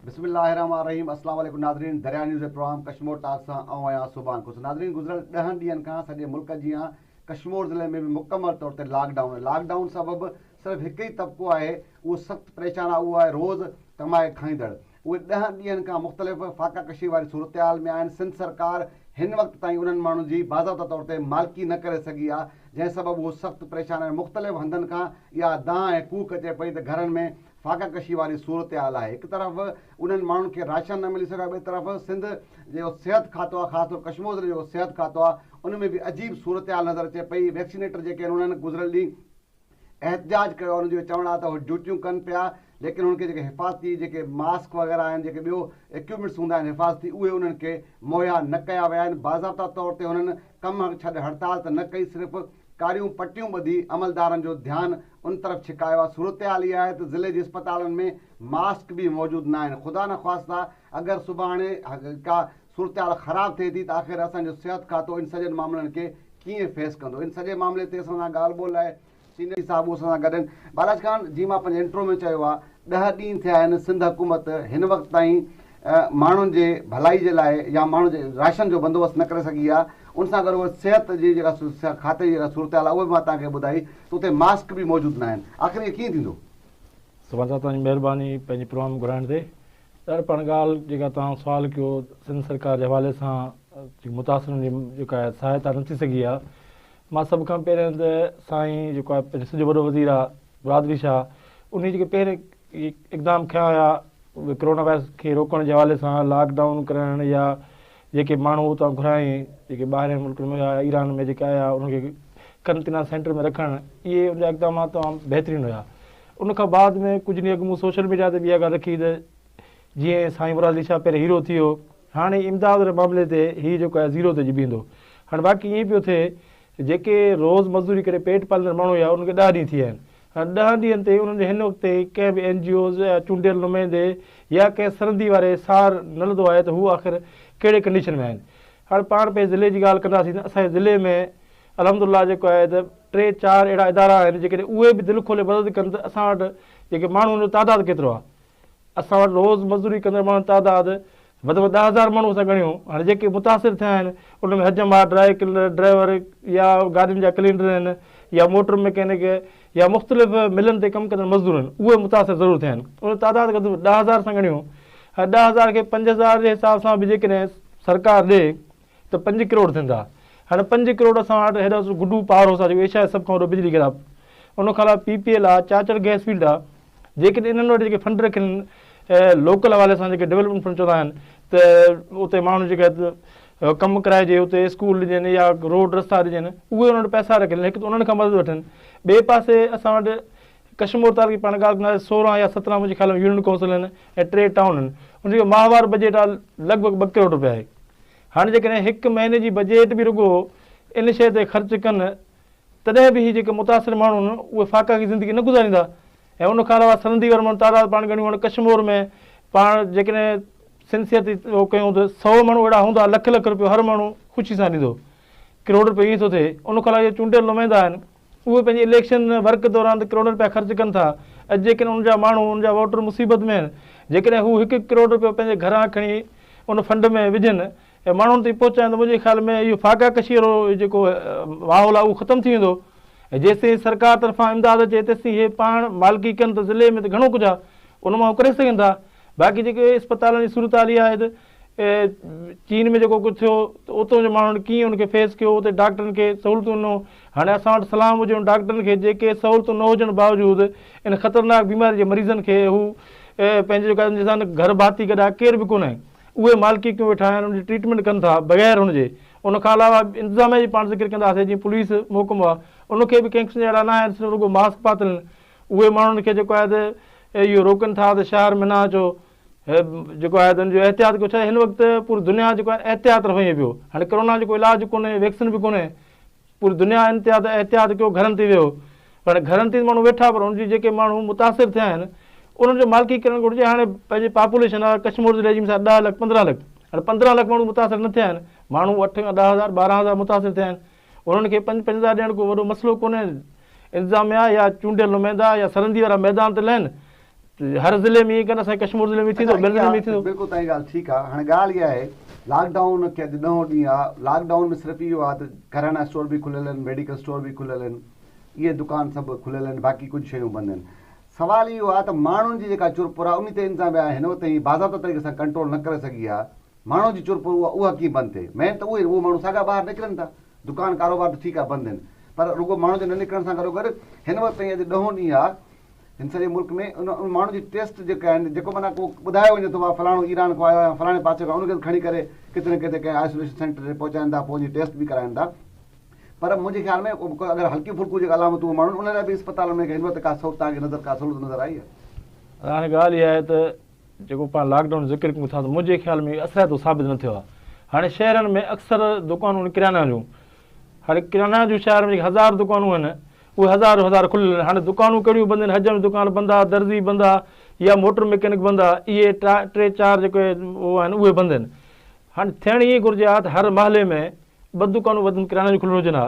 بسم الله الرحمٰن الرحيم اسلام عليڪم ناظرين دريا نيوز جي پروگرام ڪشمور ٽاڪ سان آئون آهيان سبحان خوش ناظرين گذريل ڏهن ڏينهن کان سڄي ملڪ جيان ڪشمور ضلعي ۾ به مڪمل طور تي لاڪ ڊائون لاڪ ڊائون سبب صرف هڪ ئي طبقو آهي اهو سخت پريشان آهي اهو آهي روز ڪمائي کائيندڙ اهي ڏهن ڏينهن کان مختلف فاقه ڪشي واري صورتحال ۾ آهن، سنڌ سرڪار هن وقت تائين انهن ماڻهن جي باضابطه طور تي مالڪي نه ڪري سگهي آهي، جنهن سبب هو سخت پريشان آهن، مختلف هنڌن کان اها دانهن ۽ ڪوڪ اچي پئي ته گهرن ۾ فاقه ڪشي واري صورتحال آهي، هڪ طرف انهن ماڻهن کي راشن نه ملي سگهيو آهي، ٻئي طرف سنڌ جو صحت کاتو آهي خاص طور ڪشمور ضلعي جو صحت کاتو آهي ان ۾ به عجيب صورتحال نظر اچي پئي، ويڪسينيٽر جيڪي آهن انهن گذريل ڏينهن. احتجاج ڪيو انهن جو چوڻ آهي ته هو ڊيوٽيون ڪن پيا ليڪن هن کي جيڪي حفاظتي جيڪي ماسڪ وغيره آهن جيڪي ٻيو اڪيوپمينٽس هوندا آهن حفاظتي اهي انهن کي مهيا نه ڪيا ويا آهن باضابطا طور تي هنن ڪم ڇڏ هڙتال ته نه ڪئي صرف ڪاريون پٽيون ٻڌي عملدارن جو ڌيان ان طرف ڇڪايو آهي صورتحال اها آهي ته ضلعي جي اسپتالن ۾ ماسڪ به موجود ناهن خدا نخواسته اگر سڀاڻي ڪا صورتحال خراب ٿئي ٿي ته آخر اسان جو صحت کاتو ان سڄن معاملن کي ڪيئن فيس ڪندو؟ ان سڄي معاملي تي اسان سان ڳالهه ٻولهه لاء سينيئر صاحب اسان سان گڏ آهن. بالاچ خان، جيئن مان پنهنجي انٽرو ۾ چيو آهي ڏهه ڏينهن ٿيا آهن سنڌ حڪومت هن وقت تائين ماڻهن جي ڀلائي جي لاء يا ماڻهن جي راشن جو بندوبست نه ڪري سگهي آهي ان سان گڏ اهي صحت جي جيڪا کاتي جي جيڪا صورتحال آهي اهي به مان توهان کي ٻڌائي ته اتي ماسڪ به موجود ناهن آخر اهي ڪيئن ٿيندو؟ سوال ٿا توهان جي مهرباني پنهنجي پروگرام گهرائڻ تي سر پاڻ ڳالهه جيڪا توهان سوال ڪيو سنڌ سرڪار جي حوالي سان جيڪي متاثرن جي جيڪا آهي سهائتا نه ٿي سگهي آهي مان سڀ کان پهرين ته سائين جيڪو آهي پنهنجو سڄو وڏو وزير آهي برادري شاهه انهي جيڪي پهرين اقدام کيا هيا ڪرونا وائرس کي روڪڻ جي حوالي سان لاڪ ڊائون ڪرائڻ يا جيڪي ماڻهو اتان گهرايائين جيڪي ٻاهرين ملڪن ۾ آيا ايران ۾ جيڪي آيا انهن کي قرنطينه سينٽر ۾ رکڻ اهي ان جا اقدامات تمام بهترين هيا ان کان بعد ۾ ڪجهه ڏينهن اڳ مون سوشل ميڊيا تي به اها ڳالهه رکي هئي ته جيئن سائين مراد علي شاهه پهرين هيرو ٿي هو هاڻي امداد واري معاملي تي هي جيڪو آهي زيرو تي اچي بيهندو. هاڻي واقعي ائين پيو ٿئي جيڪي روز مزدوري ڪري پيٽ پاليندڙ ماڻهو هيا انهن کي ڏهه ڏينهن ٿي ويا آهن. هاڻي ڏهن ڏينهن تي انهن جو هن وقت تائين ڪنهن به اين جي اوز يا چونڊيل نمائندي يا ڪنهن سرندي واري سار نه لڌو آهي ته هو آخر ڪهڙي ڪنڊيشن ۾ آهن. هاڻي پاڻ پنهنجي ضلعي جي ڳالهه ڪنداسين ته اسان جي ضلعي ۾ الحمد الله جيڪو آهي ته ٽي چار اهڙا ادارا آهن جيڪڏهن اهي به دل کولي مدد ڪن ته اسان وٽ جيڪي ماڻهو ان جو تعداد ڪيترو آهي اسان وٽ روز مزدوري ڪندڙ ماڻهن تعداد وڌ ۾ وڌ ڏهه هزار ماڻهو اسان ڳڻيو هاڻي جيڪي متاثر ٿيا آهن ان ۾ حجم آهي ڊرائي ڪلنر ڊرائيور يا گاڏين جا ڪلينڊر آهن يا موٽر مڪينڪ يا مختلف ملن تي ڪم ڪندڙ مزدور آهن اهي متاثر ضرور ٿيا آهن ان جو تعداد وڌ ۾ وڌ ڏهه هزار اسان ڳڻيو هاڻي ڏهه هزار کي پنج هزار جي حساب سان به جيڪڏهن سرڪار ڏي ته پنج ڪروڙ ٿيندا هاڻي پنج ڪروڙ اسان وٽ هيڏو سو گڊو پاور هاوس آ جيڪو ايشيا جو سڀ کان وڏو بجلي گهر آ ان کان علاوه پي پي ايل آ چاچڙ گئس فيلڊ آ جيڪڏهن انهن وٽ جيڪي فنڊ رکين لوڪل حوالي سان جيڪي ڊولپمينٽ فنڊ چوندا آهن ته اتي ماڻهو جيڪا ڪم ڪرائجي اتي اسڪول ڏجن يا روڊ رستا ڏجن اهي انهن وٽ پئسا رکين هڪ ته انهن کان مدد وٺن ٻئي پاسي اسان وٽ ڪشمور تعلقي پاڻ ڳالهه ڪندا آهي سورهن يا سترهن منهنجي خيال ۾ يونين ڪائونسل آهن ۽ ٽي ٽائون آهن ان جو ماهوار بجيٽ آهي لڳ ڀڳ ٻه ڪروڙ روپيا آهي هاڻي جيڪڏهن هڪ مهيني جي بجيٽ به رڳو ان شيء تي خرچ ڪن تڏهن به هي جيڪي متاثر ماڻهو آهن اهي فاقاڪي زندگي نه گذاريندا ۽ ان کان علاوه سرندي وارن ماڻهن تعداد پاڻ ڳڻيون هاڻي ڪشمور ۾ پاڻ جيڪڏهن سنسيئرتي اهو ڪيون ته سؤ ماڻهو اهڙا هوندا لک لک روپيو هر ماڻهو خوشي سان ڏيندو ڪروڙ روپيو ائين ٿو ٿئي ان کان علاوه جيڪي چونڊيل نمائندا آهن اهي پنهنجي اليڪشن ورڪ دوران ته ڪروڙين رپيا خرچ ڪن ٿا ۽ جيڪڏهن انهن جا ماڻهو، انهن جا ووٽر مصيبت ۾ آهن، جيڪڏهن هو هڪ هڪ ڪروڙ رپيو پنهنجي گهران کڻي ان فنڊ ۾ وجهن ۽ ماڻهن تائين پهچائين ته منهنجي خيال ۾ اهو فاقا ڪشي وارو جيڪو ماحول آهي اهو ختم ٿي ويندو ۽ جيستائين سرڪار طرفان امداد اچي تيستائين هي پاڻ مالڪي ڪن ته ضلعي ۾ ته گهڻو ڪجهه آهي ان مان هو ڪري سگهن ٿا باقي جيڪي اسپتالن جي صورتحال اها آهي ته چين ۾ جيڪو ڪجهه ٿيو ته اتو جي ماڻهن ڪيئن ان کي فيس ڪيو اتي ڊاڪٽرن کي سهولتون ڏنو هاڻي اسان وٽ سلام هجي ان ڊاڪٽرن کي جيڪي سهولتون نه هجڻ باوجود ان خطرناڪ بيماري جي مريضن کي هو پنهنجي جيڪا جن سان گهر ڀاتي گڏا ڪير به ڪونه اهي مالڪي ڪيون ويٺا آهن ان جي ٽريٽمينٽ ڪن ٿا بغير هن جي ان کان علاوه انتظاميه جي پاڻ ذڪر ڪنداسي جيئن پوليس محڪمو آهي ان کي به ڪنهن قسم جا اهڙا نه آهن صرف رڳو ماسڪ پاتل اهي ماڻهن کي جيڪو آهي ته اهو روڪن ٿا ته شهر ۾ نه اچو هي جيڪو آهي ان جو احتياط ڪيو ڇا هن وقت پوري دنيا جيڪو آهي احتياط رهو ائين پيو هاڻي ڪرونا جو ڪو علاج ڪونهي ويڪسين به ڪونهي پوري دنيا انتها احتياط ڪيو گهرن تي ويو هاڻي گهرن تي ماڻهو ويٺا پر ان جي جيڪي ماڻهو متاثر ٿيا آهن انهن جو مالڪي ڪرڻ گهرجي هاڻي پنهنجي پاپوليشن آهي ڪشمور ضلعي جي مثال ڏهه لک پندرهن لک هاڻي پندرهن لک ماڻهو متاثر نه ٿيا آهن ماڻهو اٺ کان ڏهه هزار ٻارهن هزار متاثر ٿيا آهن انهن کي پنج پنج هزار ڏيڻ ڪو وڏو مسئلو ڪونهي، انتظاميا يا چونڊيل نمائندا يا سرندي وارا ميدان تي لهن ته هر ضلعي ۾ ائين ڪن، اسان جي ڪشمور ضلعي ۾ ٿيندو، ٻين ضلعن ۾ ٿيندو. بلڪل توهان جي ڳالهه ٺيڪ آ، هاڻي ڳالهه اها آهي لاڪ ڊائون کي اڄ ڏهون ڏينهن آ، لاڪ ڊائون ۾ صرف اهو آ ته ڪريانا اسٽور به کليل آهن، ميڊيڪل اسٽور به کليل آهن، اهي دڪان سڀ کليل آهن، باقي ڪجهه شيون بند آهن، سوال اهو آ ته ماڻهن جي جيڪا چرپر آ انهي تي انتظاميا هن وقت تائين باضابطه طريقي سان ڪنٽرول نه ڪري سگهي آ، ماڻهو جي چرپر اها اها ڪيئن بند ٿئي؟ مين ته اهو ئي نه، اهو ماڻهو ساڳا ٻاهر نڪرن ٿا، دڪان ڪاروبار ته ٺيڪ آهي بند آهن پر رڳو ماڻهن جو نه نڪرڻ سان گڏوگڏ هن وقت تائين اڄ ڏهون ڏينهن آهي هن سڄي ملڪ ۾ ان ان ماڻهو جي ٽيسٽ جيڪا آهن جيڪو معنيٰ ڪو ٻڌايو وڃي ٿو ڀا فلاڻو ايران کان آيو آهي يا فلاڻي پاسي کان ان کي کڻي ڪري ڪٿي نه ڪٿي ڪنهن آئسوليشن سينٽر تي پهچائين ٿا پوء ان جي ٽيسٽ به ڪرائين ٿا پر منهنجي خيال ۾ اگر هلڪيون ڦلڪيون جيڪي علامتون اهي ماڻهن ان لاء به اسپتالن ۾ هن وقت ڪا سهولت تهان کي نظر ڪا سهولت نظر آئي آهي؟ هاڻي ڳالهه اها آهي ته جيڪو پاڻ لاڪ ڊائون ذڪر ڪيون ٿا ته منهنجي خيال ۾ اهو اثرائتو ثابت نه ٿيو آهي. هاڻي شهرن ۾ اڪثر دڪانون آهن ڪريانه جون. هاڻي ڪريانه جون شهر ۾ جيڪي هزار دڪانون آهن اهي هزار جو هزار کليل آهن. هاڻي دڪانون ڪهڙيون بند آهن حجم جي دڪان بند آهي، درزي بند آهي يا موٽر مڪينڪ بند آهي اهي ٽي چار جيڪي اهي آهن اهي بند آهن. هاڻي ٿيڻ ائين گهرجي ها ته هر محلي ۾ ٻه دڪانون وڌ ۾ وڌ ڪريانه جون کليل هجن ها.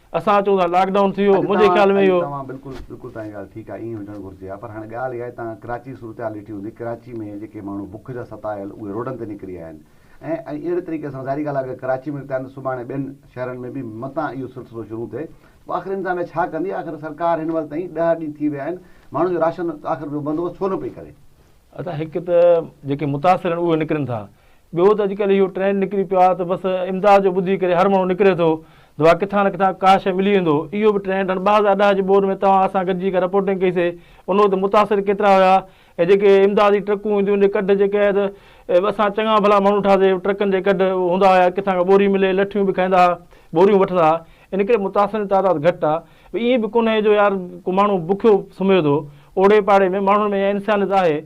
اسان اچون ٿا لاڪ ڊائون ٿي ويو منهنجي خيال ۾ اهو. توهان بلڪل بلڪل توهان جي ڳالهه ٺيڪ آهي ائين ئي هجڻ گهرجي ها پر هاڻي ڳالهه اها آهي توهان ڪراچي جي صورتحال ڏٺي هوندي ڪراچي ۾ جيڪي ماڻهو بک جا ستايل اهي روڊن تي نڪري آيا آهن ۽ ۽ اهڙي طريقي سان ظاهري ڳالهه آهي اگر ڪراچي ۾ نڪتا آهن ته سڀاڻي ٻين شهرن ۾ به متان اهو سلسلو شروع ٿئي ته آخر انتظاميا ڇا ڪندي آخر سرڪار هن وقت تائين ڏهه ڏينهن ٿي ويا آهن ماڻهن جو راشن آخر جو بندوبست ڇو نه پئي ڪري. ادا هڪ ته جيڪي متاثر آهن اهي نڪرن ٿا ٻيو ته اڄڪلهه اهو ٽرينڊ نڪري پيو آهي ته بس امداد جو ٻڌي ڪري هر ماڻهو نڪري ٿو ته ڀا ڪٿان نه ڪٿان ڪا شيء ملي ويندو. اهو به ٽرينڊ هن ٻه هزار ڏهه جي ٻوڏ ۾ توهان اسان گڏجي ڪا رپورٽنگ ڪئي سي ان وقت متاثر ڪيترا هيا ۽ جيڪي امداد جي ٽرڪون اينديون ان جي ڪڍ جي ڪهي ته اسان چڱا ڀلا ماڻهو ٺاهياسي ٽرڪن جي ڪڍ هوندا هيا ڪٿان ڪا ٻوري ملي لٺيون به کائيندا هئا ٻوريون وٺندا هئا ان ڪري متاثرن جي تعداد گهٽ آهي ائين به ڪونهي جو يار ڪو ماڻهو بکيو سمهي ٿو اوڙي پاڙي ۾ ماڻهن ۾ انسانيت آهي.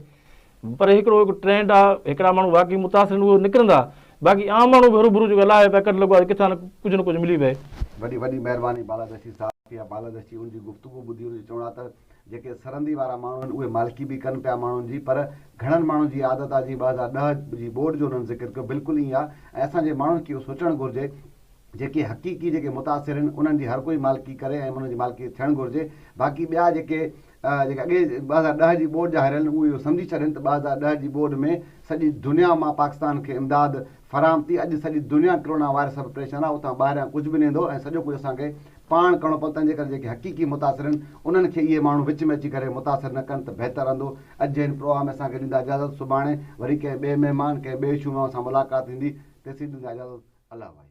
پر هڪڙو هڪ ٽرينڊ آ هڪڙا ماڻهو واقعي متاثرين اهي نڪرندا باقي عام ماڻهو به هروڀرو جيڪو الاهي پيا ڪڍ لڳو آ ڪٿان نه ڪجهه نه ڪجهه ملي پئي. وڏي وڏي مهرباني بالادستي صاحب ڪي آ بالادستي ان جي گفتگو ٻڌي ان جو چوڻ آ ته جيڪي سرندي وارا ماڻهو آهن اهي مالڪي به ڪن پيا ماڻهن جي پر گهڻن ماڻهن جي عادت آ جيئن ٻه هزار ڏهه جي ٻوڏ جو انهن ذڪر ڪيو بلڪل ائين آ ۽ اسان جي ماڻهن کي اهو سوچڻ گهرجي جيڪي حقيقي جيڪي متاثر آهن انهن جي هر ڪوئي مالڪي ڪري ۽ انهن جي مالڪي ٿيڻ گهرجي باقي ٻيا جيڪي جيڪي اڳي ٻه هزار ڏهه جي ٻوڏ جا هاريل اهي اهو سمجهي ڇڏين ته ٻه هزار ڏهه جي ٻوڏ ۾ سڄي دنيا مان پاڪستان کي امداد فراهم ٿي اڄ سڄي دنيا ڪرونا وائرس سبب پريشان آهي اتان ٻاهريان ڪجهه به نه ايندو ۽ سڄو ڪجهه اسان کي پاڻ ڪرڻو پوندو تنهنجي ڪري جيڪي حقيقي متاثر آهن انهن کي اهي ماڻهو وچ ۾ اچي ڪري متاثر نه ڪن ته بهتر رهندو اڄ جي هن پروگرام ۾ اسان کي ڏيندا اجازت سڀاڻي وري ڪنهن ٻئي مهمان ڪنهن ٻئي اشو مان اسان ملاقات ٿيندي تيسين ڏيندا اجازت الله وائي.